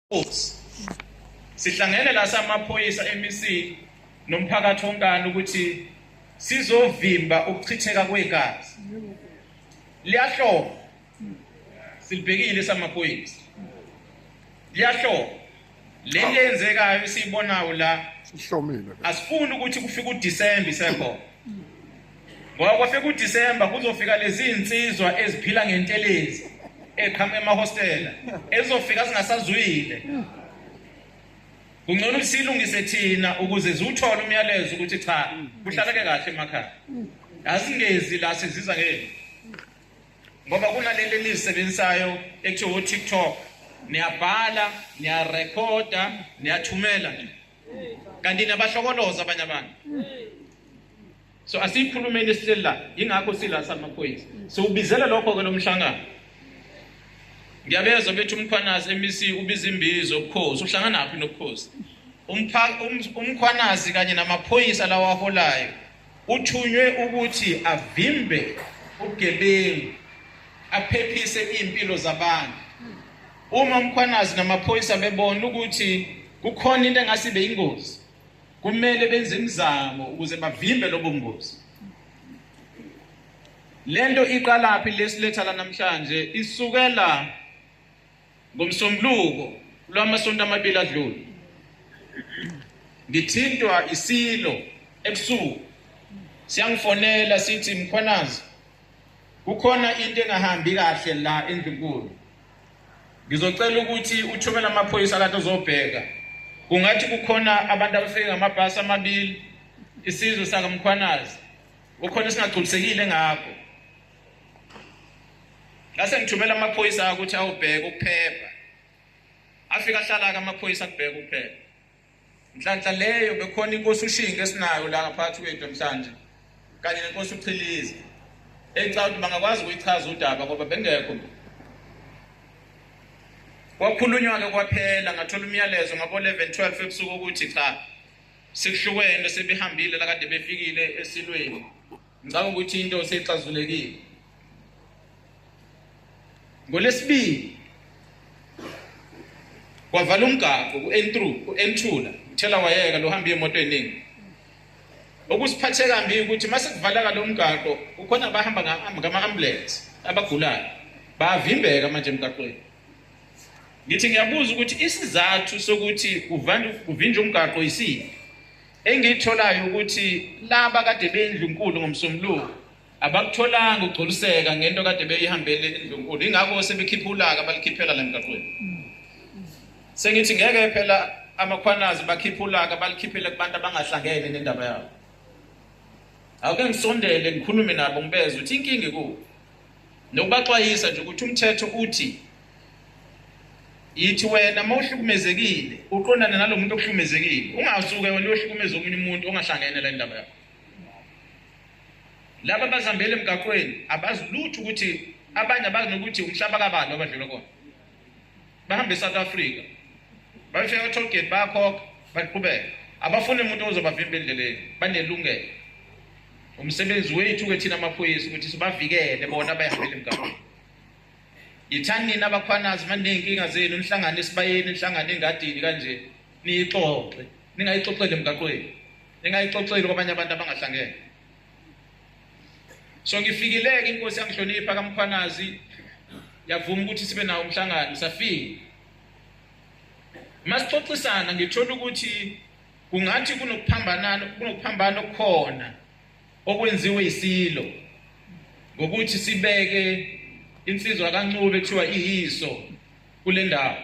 Force. Sihlangene la samaphoyisa eMC nomphakathi wonkana ukuthi sizovimba ukuchitheka kwegazi. Liyahloba. Silibhekile samaphoyisa. Liyahloba. Le nto yenzekayo esiyibonayo la sihlomile. Asifuni ukuthi kufike uDecember isekhona. Ngoko sekuDisemba kuzofika lezi insizwa eziphila ngentelezi eqhamuka emahostela ezofika zingasazwile. Kungcono ukusilungise thina ukuze ziwuthole umyalezo ukuthi cha kuhlaleke kahle emakhaya. Azingezi la siziza ngeke. Ngoba kunalento enizisebenzisayo ekuthiwa TikTok niyabhala niyarekhoda niyathumela nje kanti nabahlokoloza abanye abantu so asiyikhulumeni esihleli la yingakho sila samaphoyisa siwubizele lokho-ke lo mhlangano ngiyabezwa bethi umkhwanazi emc ubiza imbizo ubukhosi uhlanganaphi nobukhosi um-, umkhwanazi kanye namaphoyisa lawaholayo uthunywe ukuthi avimbe ubugebengu aphephise iy'mpilo zabantu Uma uMkhwanazi namaphoyisa bebona ukuthi kukhona into engase ibe ingozi, kumele benze imizamo ukuze bavimbe lobo ngozi. Lento iqalaphi lesiletha la namhlanje isukela ngomsombuluko lwamasonto amabili adlule. Ngithintwa isilo ebusuku siyangifonela sithi Mkhwanazi kukhona into engahambi kahle la endlunkulu ngizocela ukuthi uthumele amaphoyisa kanti uzobheka kungathi kukhona abantu abafike ngamabhasi amabili isizwe sakamkhwanazi ukhona singagculisekile ngakho ngase ngithumela amaphoyisa ukuthi awubheke ukuphepha afika ahlala-ke amaphoyisa kubheke ukuphepha Nhlanhla leyo bekhona inkosi ushinga esinayo la ngaphathi kwethu namhlanje kanye nenkosi uchilize ecaba ukuthi bangakwazi ukuyichaza udaba ngoba bengekho kwakhulunywa-ke kwaphela ngathola umyalezo ngabo-11 12 ebusuku ukuthi cha sekuhlukene sebehambile lakade befikile esilweni Ngicabanga ukuthi into seyixazulekile. Ngolesibili kwavala umgaqo ku-N3 ku-N2 la uthela wayeka lo hamba imoto eningi okusiphathe kambi ukuthi mase kuvalaka lo mgaqo kukhona abahamba ngama-ambulance abagulayo bayavimbeka manje emgaqweni ngithi ngiyabuza ukuthi isizathu sokuthi kuvinjwe umgaqo yisiphi Engiyitholayo ukuthi laba kade beyindlunkulu ngomsombuluko abakutholanga ukugculiseka ngento kade beyihambele indlunkulu ingakho sebekhipha ulaka balikhiphela la mgaqweni sengithi ngeke phela amakhwanazi bakhipha ulaka balikhiphele kubantu abangahlangene nendaba yabo awuke ngisondele ngikhulume nabo ngibeze ukuthi inkinga ikuphi nokubaxwayisa nje ukuthi umthetho uthi yithi wena uma uhlukumezekile uqondane nalo muntu okuhlukumezekile ungasuke wena uyohlukumeza omunye umuntu ongahlangene la ndaba yakho laba bazihambele emgaqweni abazi lutho ukuthi abanye abazi nokuthi umhlaba kabani abadlula kona bahambe eSouth Africa bayofika ka-toll gate bayakhokha baqhubeka abafuni umuntu ozobavimba endleleni banelungelo umsebenzi wethu-ke thina amaphoyisa ukuthi sibavikele bona bayihambele emgaqweni yithani nina abakhwanazi maney'nkinga zenu nihlangane esibayeni nihlangane engadini kanje niyixoxe ningayixoxeli emgaqweni ningayixoxeli kwabanye abantu abangahlangene so ngifikileke inkosi yangihlonipha kamkhwanazi yavuma ukuthi sibe nawo umhlangano safika masixoxisana ngithola ukuthi kungathi kunokuphambanana kunokuphambana okukhona okwenziwe isilo ngokuthi sibeke insizwa kaNcube kuthiwa iyiso kule ndawo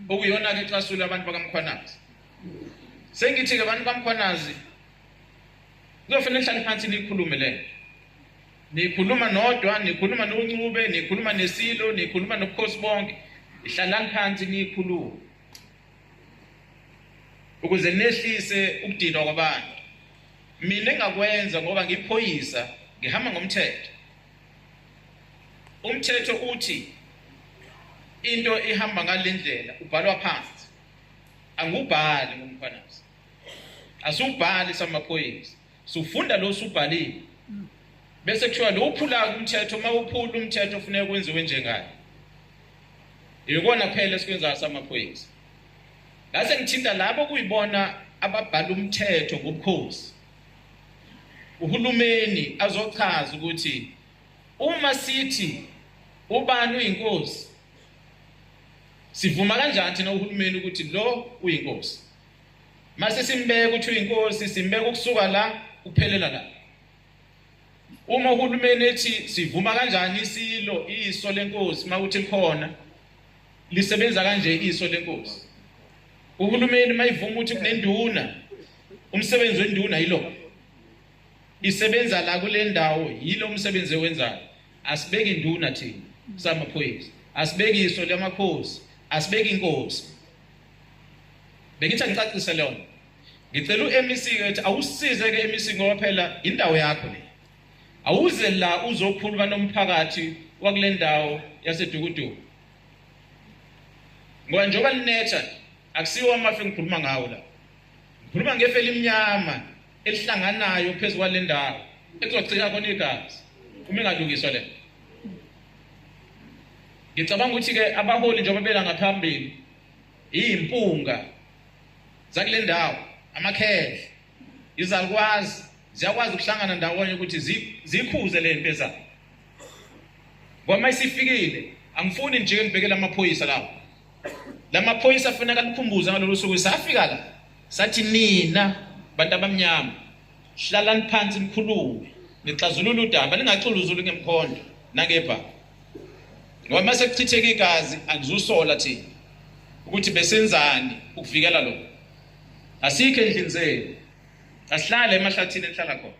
okuyona ke xasula abantu bakamkhwanazi sengithi ke abantu kamkhwanazi kuyofanele nihlale phansi niyikhulume le niyikhuluma nodwa niyikhuluma noncube niyikhuluma nesilo niyikhuluma nobukhosi bonke ihlalani phansi niyikhulume ukuze nehlise ukudinwa kwabantu mina engakwenza ngoba ngiphoyisa ngihamba ngomthetho umthetho uthi into ihamba ngalendlela ubhalwa phansi angubhali ngomkhwanazi asubhali samaphoyisa sufunda lo subhalile bese kuthiwa lo uphula umthetho uma uphula umthetho ufuneka kwenziwe njengani yikona phela esikwenzayo samaphoyisa ngase ngithinta labo kuyibona ababhala umthetho ngobukhosi uhulumeni azochaza ukuthi uma sithi ubani uyinkosi sivuma kanjani thina uhulumeni ukuthi lo uyinkosi Mase simbeka ukuthi uyinkosi simbeka ukusuka la kuphelela la. Uma uhulumeni ethi sivuma kanjani isilo iso lenkosi mawuthi likhona lisebenza kanje iso lenkosi. Uhulumeni mayivuma ukuthi kunenduna umsebenzi wenduna yilo. Isebenza la kule ndawo yilo umsebenzi owenzayo. Asibeki induna thina samaphoyisa. Asibeki iso lamakhosi, asibeki inkosi. bengithi angicacise lona ngicela uMEC ke ukuthi awusize ke MEC ngoba phela indawo yakho le awuze la uzokhuluma nomphakathi wakule ndawo yasedukuduku ngoba njengoba linetha akusiwo amafi ngikhuluma ngawo la ngikhuluma ngefe elimnyama elihlanganayo phezu kwale ndawo ekuzogcina khona igazi uma ingalungiswa le ngicabanga ukuthi ke abaholi njengoba bela ngaphambili iyimpunga zakule ndawo amakhehle izalukwazi ziyakwazi ukuhlangana ndawonye ukuthi zikhuze le nto ezayo ngoma isifikile angifuni nje ngibhekele amaphoyisa lawo la maphoyisa afuneka likhumbuze ngalolu suku safika la sathi nina bantu abamnyama hlalani phansi nikhulume nixazulule udaba ningaxuluzuli ngemkhondo nangebha ngoba uma sekuchitheke igazi angizusola thina ukuthi besenzani ukuvikela lokho asikho endlini zenu asihlale emahlathini enhlala khona